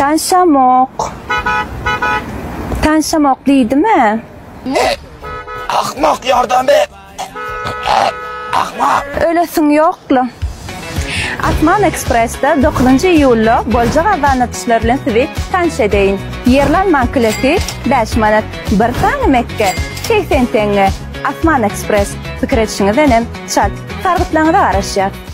Tanşamok. Tanşamok diýdimi? Ne? Ahmak ýardam ber. Ahmak. Ölesiň ýokla. Asman Ekspressda 9 iýulda boljak abanatyşlar bilen sizi tanyş edeýin. Ýerlanmaň kleti bäş manat, bir sany mekge segsen teňňe. Asman Ekspress, pikir edişiňizdenem çalt, sargytlaryňyza garaşýas.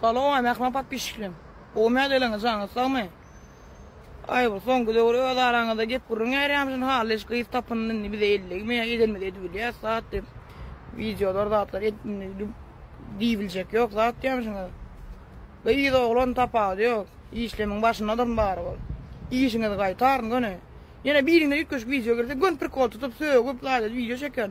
Salowam Rahman podpişiklerim. Gowy mädeleriňiz janyňyz sagmy. Aýgül soňky döwür öz araňyzda gep gürrüň äýrýärmişin hally hiç gyz tapyn indi bize ellegme ýa edenimizi edibilýäs zat diýip wideolar zatlar edip indi diýibiljek ýok zat diýýämişiňiz. Gyz oglan tapawudy ýok işlemiň başyndadyryn barybir. Işiňizi gaýtaryn göni. Ýene biriňden üýtgeşik wideo gelse göni prikol tutup sögüp ýa-da wideo çeken.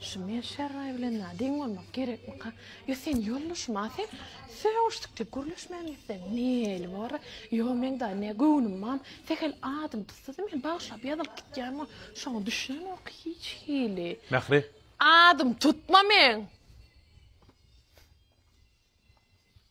Şu men şerraý bilen na deň bolmak gerekmika? Ýo sen ýoldaşym a sen sögüşdik diýip gürleşmän gitseň neli bor a? Ýo meň da ne göwnüm mam sehel adym dysdydy men bagyşlap ýazylyp gitýän ol şoňa düşünemok hiç hili. Mähri. Adym tutma meň.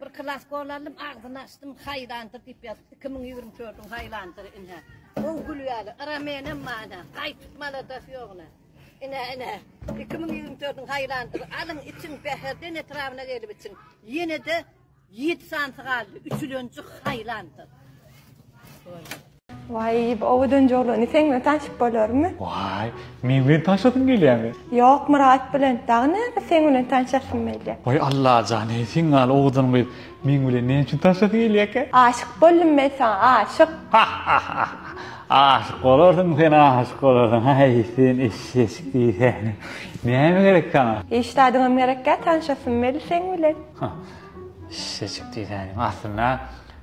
Bir klas gol aldym, agzyny açdym, haýlandyr diýip ýazypdy. 2024-iň haýlandyry ine. Gowy gülýärler. Ira menem bana, gaýtyp maladas ýoguna. Ine, ine. 2024-iň haýlandyry alyň, içiň, Bäherden etrabyna gelip içiň. Ýene-de 7 sanysy galdy. Üçülenji haýlandyr. Goý. Waý, bu owadan jolany seň bilen tanşyp bolarmy? Waý, meň bilen tanşasyň gelýärmi? Ýok, Myrat bilen. Dagy näme seň bilen tanşasym gelýär. Waý, Allajan, eý, seň ýaly owadan gyz meň bilen näme üçin tanşasy gelýärkä? Aşyk boldum men saňa, aşyk! Hah-hah-hah! Aşyk bolarsyň sen, aşyk bolarsyň! Haý, sen eşşeşik diýsäni! Näme gerek saňa? Hiç zadyňam gerekkä, tanşasym meli seň bilen. Hah, eşşeşik diýsäni! Aslynda,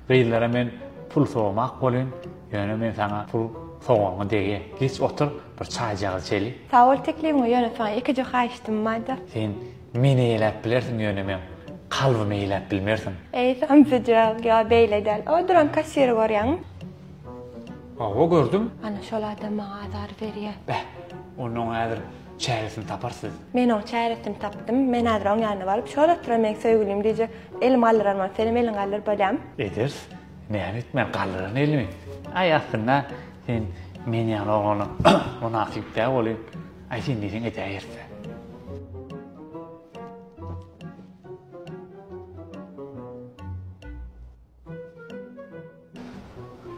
Gyzlara men pul sowmak bolyn, ýöne men saňa pul sowanyňy degýän. Geç otur, bir çaýjagaz içeli. Sag bol teklibiň we ýöne saňa ýekeje haýyştym barda. Sen meni eýläp bilersiň, ýöne meň kalbymy eýläp bilmersiň. Eý, samsyjak, ýa beýle däl. O duran kassiri görýäňmi? Hawa, gördüm. Ana, şol adam maňa azar berýär. Beh, onda oňa häzir Çäresini tapar siz. Men oň çäresini tapdym. Men häzir oň ýanyna baryp, Şol oturan meň söýgülim diýjek. Elimi galdyrarman, senem eliňi galdyryp bolýamy? Eders, näme etmän galdyran elimi? Aý, aslynda sen men ýaly oglana mynasyp däl welin, aý sen diýseň edäýerse.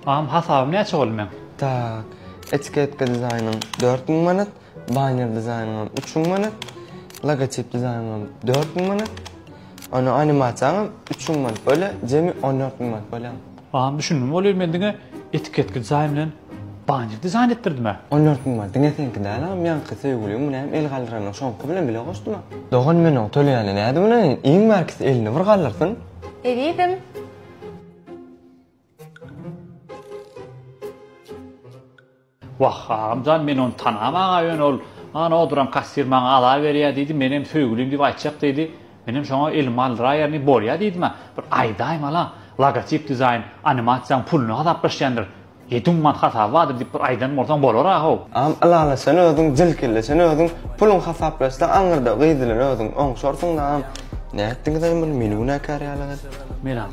Agam hasaby näçe boldy meň. Tak. Etiketka dizaýnyň dört müň manat, banner dizaýnyňam üç müň manat, logotip dizaýnyňam dört müň manat, onnoň animasiýaňam üç müň manat bolýar, jemi on dört müň manat bolýar. Agam düşündim bolýar men diňe etiketka dizaýn bilen banner dizaýn etdirdim-ä. On dört müň manat diňe seňki däl agam ýaňky söýgüliň muny hem el galdyranyň şoňky bilen bile goşdum-a. Dogan men oňa töleýäne nädip ynanaýyn iň bärkisi elini bir galdyrsyn. Ezizim. Wah, agam jan, men ony tanam aga, ýöne ol, Ana oturan kassir maňa azar berýär diýdi, menem söýgülim diýip aýtjak diýdi. Menem şoňa elimi aldyraýerni, bolýa diýdim-ä. Bir aýdaýmaly-a, logotip dizaýn animasiýaň puluny gazaplaşýandyr. Ýetim mat hasabadyr diýip bir aýdan bolsaň bolara how. Am ylala sen özüň jil kelle sen özüň puluň hasaplaşsa aňyrda gyz bilen özüň oňşarsyňda am nätdiňizaý muny meni günäkär ýaly gyz. Menam.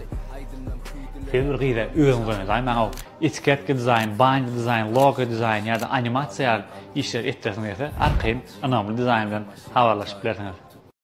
Siz bir gyza özüňiz oýnazaýmaň how etiketka dizaýn baýndy dizaýn logo dizaýn ýada animasiýa ýaly işleri etdiresiňiz ýa-da arkaýyn ynamly dizaýn bilen habarlaşyp bilersiňiz.